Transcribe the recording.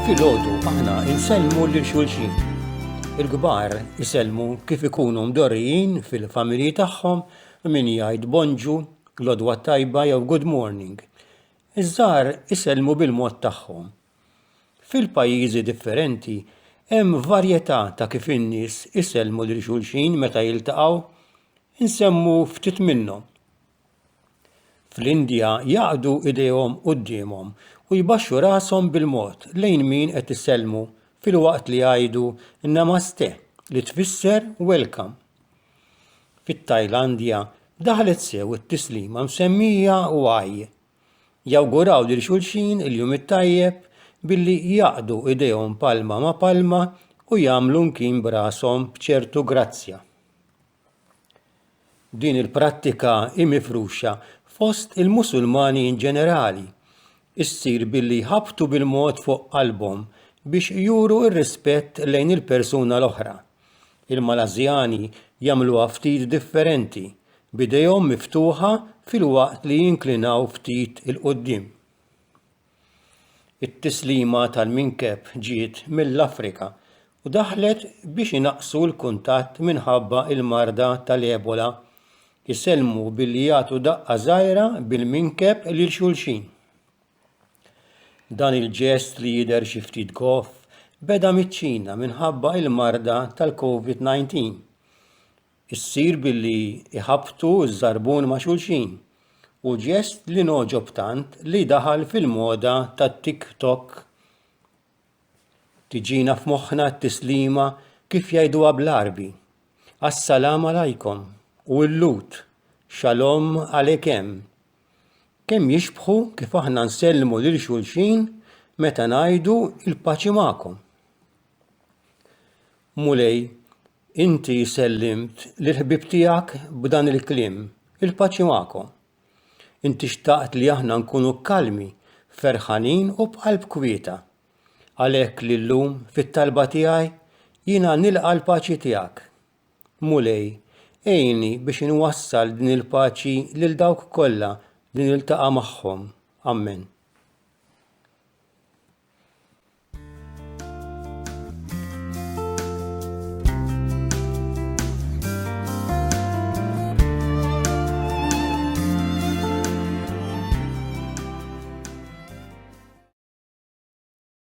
Filgħodu aħna insellmu lil xulxin. Il-kbar isellmu kif ikunu mdorrijin fil-familji tagħhom min jgħid bonġu, lodwa tajba jew good morning. Iż-żgħar isellmu bil-mod tagħhom Fil-pajjiżi differenti hemm varjetà ta' kif in-nies isellmu lil xulxin meta jiltaqgħu. Insemmu ftit minnhom, fl-Indja jaqdu idejhom quddiemhom u jbaxxu rashom bil-mod lejn min qed isellmu filwaqt li jgħidu Namaste li tfisser welcome. Fit-Tajlandja daħlet sew it-tislima msemmija Y Jawguraw lil xulxin il-jum it-tajjeb billi jgħaqqdu idejhom palma ma' palma u jagħmlu mkien b'rashom b'ċertu grazzja. Din il-prattika hi mifruxa fost il-Musulmani in ġenerali. Issir billi jħabbtu bil-mod fuq qalbhom biex juru r-rispett lejn il-persuna l-oħra. Il-Malażjani jagħmluha ftit differenti, b'idejhom miftuħa filwaqt li jinklinaw ftit 'il quddiem. It-tislima tal-minkeb ġiet mill-Afrika u daħlet biex inaqqsu l-kuntatt minħabba l-marda tal-Ebola, isellmu billi jagħtu daqqa żgħira bil-minkeb lil xulxin. Dan il-ġest li jidher xi ftit goff beda miċ-Ċina minħabba il-marda tal-Covid-19. Issir billi iħabbtu ż-żarbun ma' xulxin u ġest li ngħoġob tant li daħal fil-moda tat-tik tok. Tiġina f'moħħna t-tislima kif jgħiduha bl-Għarbi, As-salam alaikum u l-lut, Shalom alekem. Kemm jixbħu kif aħna nsellmu lil xulxin meta ngħidu l-paċi magħkom. Mulej, inti sellimt lill-ħbieb tiegħek b'dan il-kliem, il-paċi magħkom. Inti xtaqt li aħna nkunu kalmi, ferħanin u b'qalb kwieta. Għalhekk lillum fit-talba tiegħi jiena nilqa' l-paċi tiegħek. Mulej, għinni biex inwassal din il-paċi lil dawk kollha li niltaqa' magħhom. Ammen.